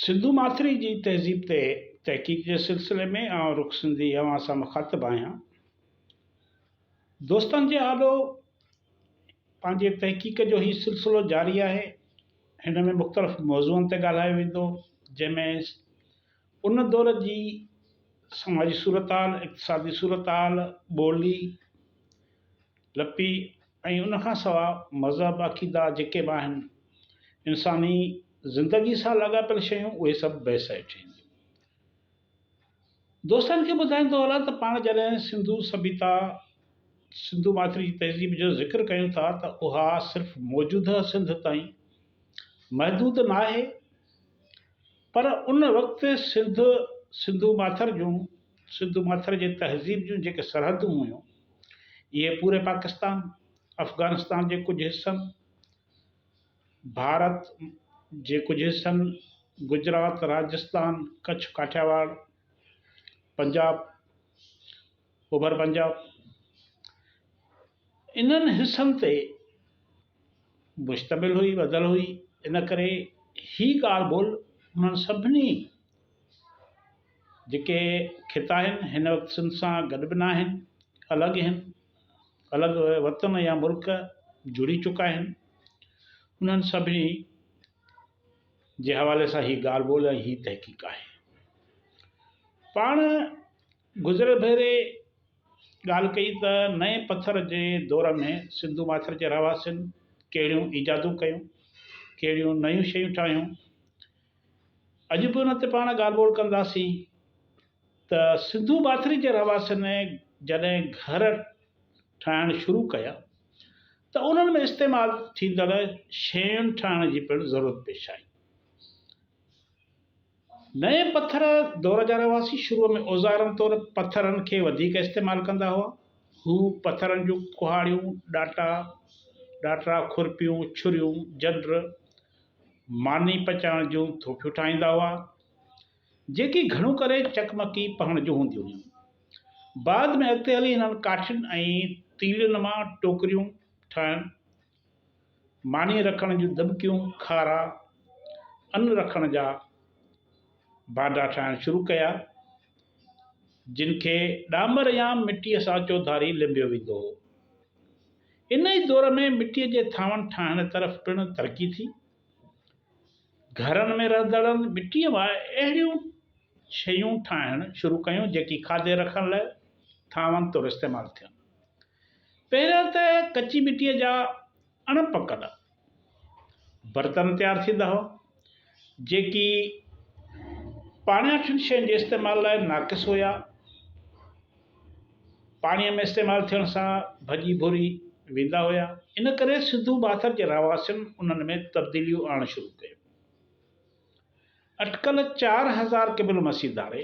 سنڌو ماٿري جي تهذيب تي تحقيق جي سلسلي ۾ آئون رخ سنڌي اوهان سان مخاطب آهيان. دوستن جي آڏو پنهنجي تحقيق جو هي سلسلو جاري آهي. هن ۾ مختلف موضوعن تي ڳالهايو ويندو جنهن ۾ ان دور جي سماجي صورتحال، اقتصادي صورتحال، ٻولي لپي ۽ ان کان سواء مذهب، عقيدا جيڪي به آهن، انساني زندگي سان لاڳاپيل شيون اهي سڀ بحث هيٺ اينديون. دوستن کي ٻڌائيندو هلان ته پاڻ جڏهن سنڌو سڀيتا، سنڌو ماٿري جي تهذيب جو ذڪر ڪيون ٿا ته اها صرف موجوده سنڌ تائين محدود ناهي، پر ان وقت سنڌ، سنڌو ماٿر جون، سنڌو ماٿر جي تهذيب جون جيڪي سرحدون هيون، اهي پوري پاڪستان، افغانستان جي ڪجهه حصن، ڀارت جي ڪجهه حصن، گجرات، راجستان، ڪڇ، ڪاٺياواڙ، پنجاب، اوڀر پنجاب، انهن حصن تي مشتمل هئي، ٻڌل هئي، ان ڪري هي ڳالهه ٻولهه انهن سڀني جيڪي خطا آهن، هن وقت سنڌ سان گڏ به ناهن، الڳ آهن، الڳ وطن يا ملڪ جڙي چڪا آهن، انهن سڀني جي حوالي سان هي ڳالهه ٻولهه ۽ هي تحقيق آهي. پاڻ گذريل ڀيري ڳالهه ڪئي ته نئين پٿر جي دور ۾ سنڌو ماٿر جي رهواسين ڪهڙيون ايجادون ڪيون، ڪهڙيون نيون شيون ٺاهيون. اڄ به ان تي پاڻ ڳالهه ٻولهه ڪنداسين ته سنڌو ماٿري جي رهواسين جڏهن گهر ٺاهڻ شروع ڪيا ته انهن ۾ استعمال ٿيندڙ شين ٺاهڻ جي پڻ ضرورت پيش آئي. نئين پٿر دور جا رهواسي شروع ۾ اوزارن طور پٿرن کي وڌيڪ استعمال ڪندا هئا. هو پٿرن جون ڪهاڙيون، ڏاٽا، ڏاٽرا، کورپيون، ڇريون، جنڊ، ماني پچائڻ جون ٿوڦيون ٺاهيندا هئا، جيڪي گهڻو ڪري چقمقي پهڻ جون هونديون هيون. بعد ۾ اڳتي هلي هنن ڪاٺين ۽ تيلين مان ٽوڪريون ٺاهڻ ماني رکڻ جون دٻڪيون کارا ان رکڻ جا ڀانڊا ٺاهڻ شروع ڪيا، جن کي ڏامر يا مٽيء سان چوڌاري لنبيو ويندو هو. ان ئي دور ۾ مٽيء جي ٿانون ٺاهڻ طرف پڻ ترقي ٿي. گهرن ۾ رهندڙن مٽيء مان اهڙيون شيون ٺاهڻ شروع ڪيون، جيڪي کاڌي رکڻ لاء ٿانون طور استعمال ٿين. پهريان ته ڪچي مٽيء جا اڻ پڪل برتن تيار ٿيندا هئا، جيڪي پاڻياٺين شين جي استعمال لاء ناقص هيا. پاڻيء ۾ استعمال ٿيڻ سان ڀڄي ڀوري ويندا هيا، ان ڪري سنڌو ڀاٿر جي رهواسين انهن ۾ تبديليون آڻڻ شروع ڪيون. اٽڪل چار هزار قبل مسيح ڌاري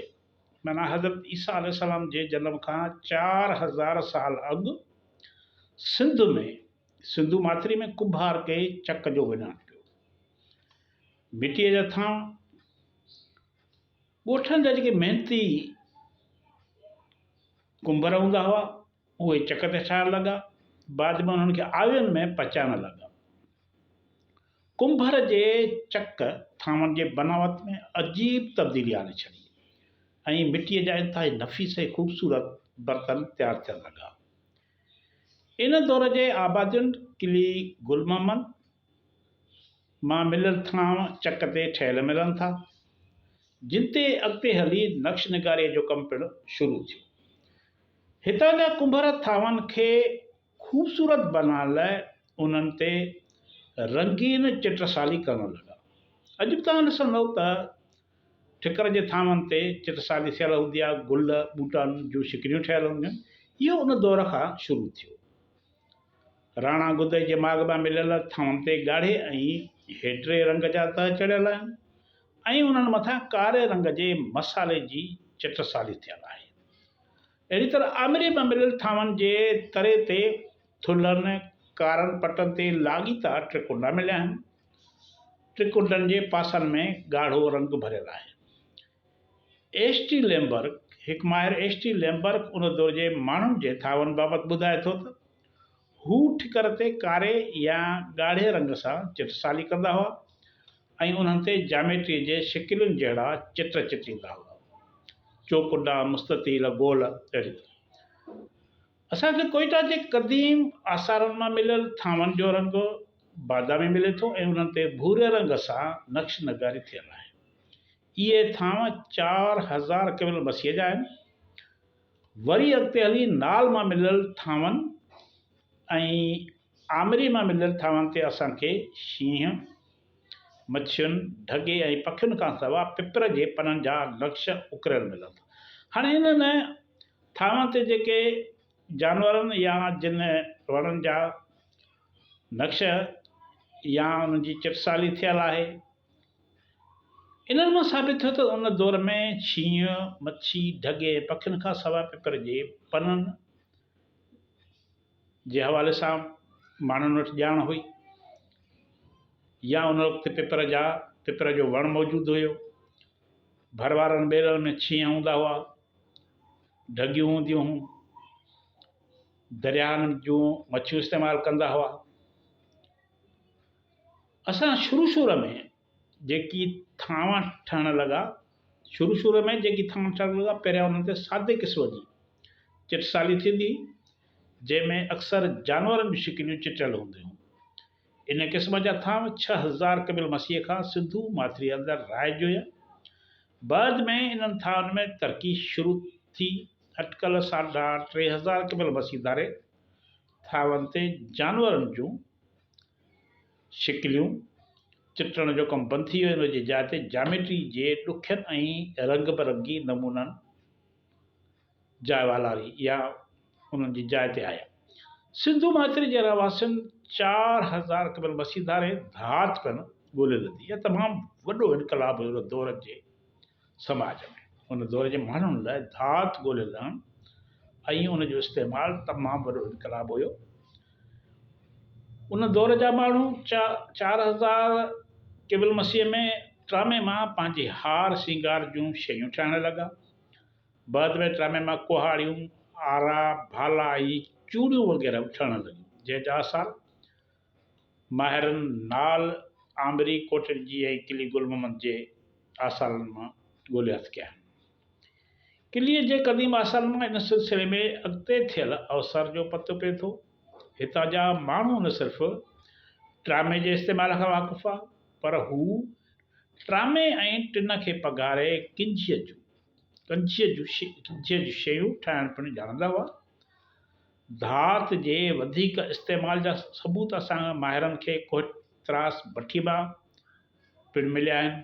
معنيٰ حضرت عيسيٰ عليه السلام جي جنم کان چار هزار سال اڳ سنڌ ۾ سنڌو ماٿري ۾ ڪنڀار ڪي چڪ جو وڃان ڪيو. مٽيء جا ٿانء ڳوٺن جا جيڪي محنتي ڪنڀر هوندا هئا اهي چڪ تي ٺاهڻ لڳا. بعد ۾ انهن کي آوين ۾ پچائڻ لڳا. ڪنڀر جي چڪ ٿانون جي بناوت ۾ عجيب تبديلي آڻي ڇڏي ۽ مٽيء جا انتهائي نفيس ۽ خوبصورت برتن تيار ٿيڻ لڳا. ان دور جي آبادين قلعي گل محمد، مان مليل ٿانء چڪ تي ٺهيل ملن ٿا، جن تي اڳتي هلي نقش نگاريء جو ڪم پڻ شروع ٿيو. هتان جا ڪنڀر ٿانون کي خوبصورت بنائڻ لاء انهن تي رنگين چٽسالي ڪرڻ لڳا. اڄ به توهان ڏسندؤ ته ٺڪر جي ٿانون تي چٽسالي ٿيل هوندي آهي، گل، ٻوٽن جون شڪليون ٺهيل هونديون آهن، اهو ان دور کان شروع ٿيو. راڻا گدئي جي ماڳ مان مليل ٿانون تي ڳاڙهي ۽ هيڊري رنگ جا تهه چڙهيل آهن ۽ انهن مٿان ڪاري رنگ جي مصالحي جي چٽسالي ٿيل آهي. اهڙي طرح آمري مان مليل ٿانون جي تري تي ٿلهن ڪارن پٽن تي لاڳيتا ٽرڪنڊا مليا آهن. ٽرڪنڊن جي پاسن ۾ ڳاڙهو رنگ ڀريل آهي. ايڇ ٽي ليمبرڪ، هڪ ماهر ايڇ ٽي ليمبرڪ ان دور جي ماڻهن جي ٿاون بابت ٻڌائي ٿو ته، هو ٺڪر تي ڪاري يا ڳاڙهي رنگ سان چٽسالي ڪندا هئا ۽ انهن تي جاميٽريء جي شڪلين جهڙا چٽ چٽيندا هئا، چوڪنڊا، مستطيل، گول، اهڙي طرح. اسان کي ڪوئيٽا جي قديم آثارن مان مليل ٿانون جو رنگ بادامي ملي ٿو ۽ انهن تي ڀوري رنگ سان نقش نگاري ٿيل آهي. اهي ٿانء چار هزار قبل مسيح جا آهن. وري اڳتي هلي نال مان مليل ٿانون ۽ آمري مان مليل ٿانون تي اسان کي شينهن، مڇين، ڍڳي ۽ پکين کان سوا پپر جي پنن جا نقش اڪريل ملن ٿا. هاڻ انهن ٿانون تي جيڪي جانورن يا جن وڻن جا نقش يا انهن جي چٽسالي ٿيل آهي، انهن مان ثابت ٿيو ته ان دور ۾ شينهن، مڇي، ڍڳي ۽ پکين کان سواء پپر جي پنن جي حوالي سان ماڻهن وٽ ڄاڻ هئي يا ان وقت پپر جا پپر جو وڻ موجود هيو. ڀر وارن ٻيلن ۾ شينهن هوندا هئا، ڍڳيون هونديون هيون، درياهن جون مڇيون استعمال ڪندا هئا. اسان شروع شروع ۾ جيڪي ٿانوا ٺهڻ لڳا شروع شروع ۾ جيڪي ٿانوا ٺهڻ لڳا پهريان انهن تي سادي قسم جي چٽسالي ٿيندي هئي جنهن ۾ اڪثر جانورن جون شڪليون چٽيل هونديون هيون. ان قسم جا ٿانو ڇهه هزار قبل مسيح کان سنڌو ماٿريء اندر رائج هيا. بعد ۾ انهن ٿانون ۾ ترقي شروع ٿي اٽڪل ساڍا ٽي هزار قبل مسيح ڌاري ٿانون تي جانورن جون شڪليون چٽڻ جو ڪم بند ٿي ويو ان جي جاء تي جاميٽري جي ڏکين ۽ رنگ برنگي نمونن جاء والاري يا انهن جي جاء تي آيا. سنڌو ماٿري جي رهواسين چار هزار قبل مسيح ڌارين ڌات پڻ ڳولي لڌي. اهو تمام وڏو انقلاب هيو ان دور جي. سماج ۾ ان دور جي ماڻهن لاء ڌات ڳولي لهڻ ۽ ان جو استعمال تمام وڏو انقلاب هيو. ان دور جا ماڻهو چار هزار قبل مسيح ۾ ٽرامي مان پنهنجي هار سينگار جون شيون ٺاهڻ لڳا. بعد ۾ ٽرامي مان ڪهاڙيون، آرا، ڀالا ۽ چوڙيون وغيره به ٺهڻ لڳيون، جنهن جا آثار ماهرن نال آمري ڪوٽڏجي ۽ قلعي گل محمد جي آثارن مان ڳوليا ٿي ڪيا آهن. قلعي جي قديم آثارن مان ان سلسلي ۾ اڳتي ٿيل اوسر جو پتو پئي ٿو. هتان جا ماڻهو نه صرف ٽرامي جي استعمال کان واقف هئا پر هو ٽرامي ۽ ٽن کي پگهاري ڪنجهي جون ڪنجهي جون شيون ٺاهڻ پڻ ڄاڻندا هئا. ڌات جي وڌيڪ استعمال جا ثبوت اسان ماهرن کي ڪوهٽ تراس بٺي مان پڻ مليا آهن.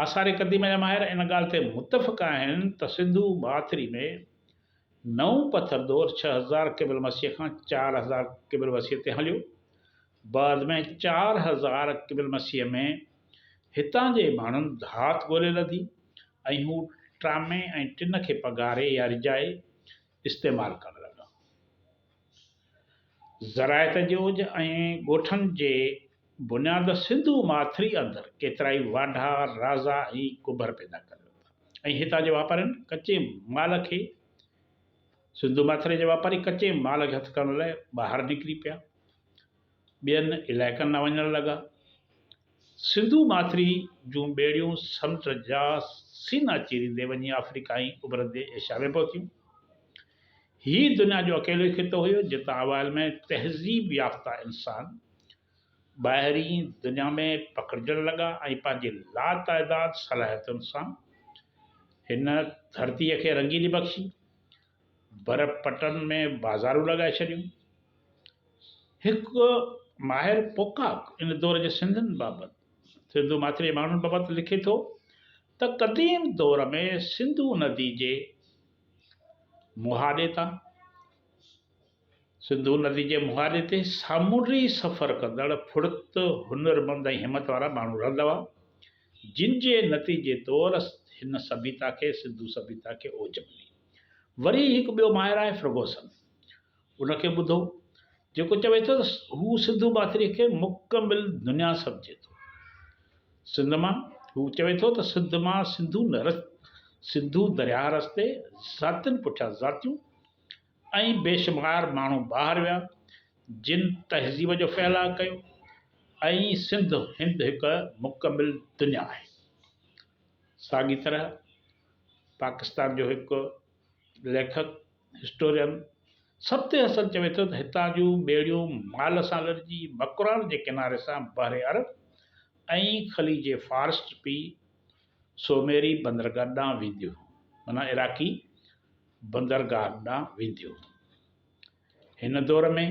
آثار قديمه جا ماهر ان ڳالهه تي متفق آهن ته سنڌو ماٿري ۾ نئون پٿر دور ڇهه هزار قبل مسيح کان چار هزار قبل مسيح تي هليو. بعد ۾ چار هزار قبل مسيح ۾ هتان جي ماڻهن ڌات ڳولي لڌي ۽ هو ٽرامي ۽ ٽن کي پگهاري يا رجائي استعمال ڪرڻ لڳا. زراعت جي اوج ۽ ڳوٺن جي بنياد سنڌو ماٿري اندر ڪيترائي واڍا، رازا ۽ ڪڀر پيدا ڪري ورتا ۽ هتان جي واپارين ڪچي مال کي سنڌو ماٿري جا واپاري ڪچي مال کي هٿ ڪرڻ لاء ٻاهر نڪري پيا. ٻين علائقن ڏانهن وڃڻ لڳا. سنڌو ماٿري جون ٻيڙيون سمنڊ جا سينا چيريندي وڃي آفريڪا ۽ اڀرندي ايشيا ۾ پهتيون. هي دنيا جو اڪيلو ئي خطو هيو، جتان اوائل ۾ تهذيب يافته انسان ٻاهرين دنيا ۾ پکڙجڻ لڳا ۽ پنهنجي لاتعداد صلاحيتن سان هن ڌرتيء کي رنگيني بخشي. بر پٽن ۾ بازارون لڳائي ڇڏيون. هڪ ماهر پوڪاڪ ان دور جي سنڌين بابت، سنڌو ماٿري جي ماڻهن بابت لکي ٿو ته قديم دور ۾ سنڌو ندي جي مهاڏي تان، سنڌو ندي جي مهاڏي تي سامونڊي سفر ڪندڙ ڦڙت، هنرمند ۽ همت وارا ماڻهو رهندا هئا، جن جي نتيجي طور هن سڀيتا کي سنڌو سڀيتا کي اوج ملي. وري هڪ ٻيو ماهر آهي فرگوسن. ان کي ٻڌو، جيڪو چوي ٿو ته هو سنڌو ماٿريء کي مڪمل دنيا سمجهي ٿو. سنڌ مان، هو چوي ٿو ته سنڌ مان سنڌو نه، سنڌو درياهه رستي، ذاتين پٺيان ذاتيون، ۽ بيشمار ماڻهو ٻاهر ويا جن تهذيب جو ڦهلاء ڪيو ۽ سنڌ هند هڪ مڪمل دنيا آهي ساڳي طرح پاڪستان جو هڪ ليکڪ هسٽورين سبت حسن چوي ٿو ته هتان جون ٻيڙيون مال سان لڏجي مڪران جي ڪناري سان بحر عرب ۽ خليج فارس ٽپي سومري بندرگاهه ڏانهن وينديون معنيٰ عراقي بندرگاهه ڏانهن وينديون. هن دور ۾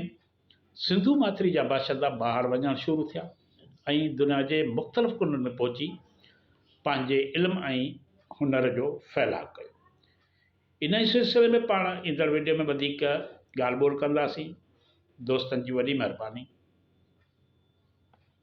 سنڌو ماٿري جا باشندا ٻاهر وڃڻ شروع ٿيا ۽ دنيا جي مختلف ڪنڊن ۾ پهچي پنهنجي علم ۽ هنر جو ڦهلاء ڪيو. ان ئي سلسلي ۾ پاڻ ايندڙ وڊيو ۾ وڌيڪ ڳالهه ٻولهه ڪنداسين. دوستن جي وڏي مهرباني.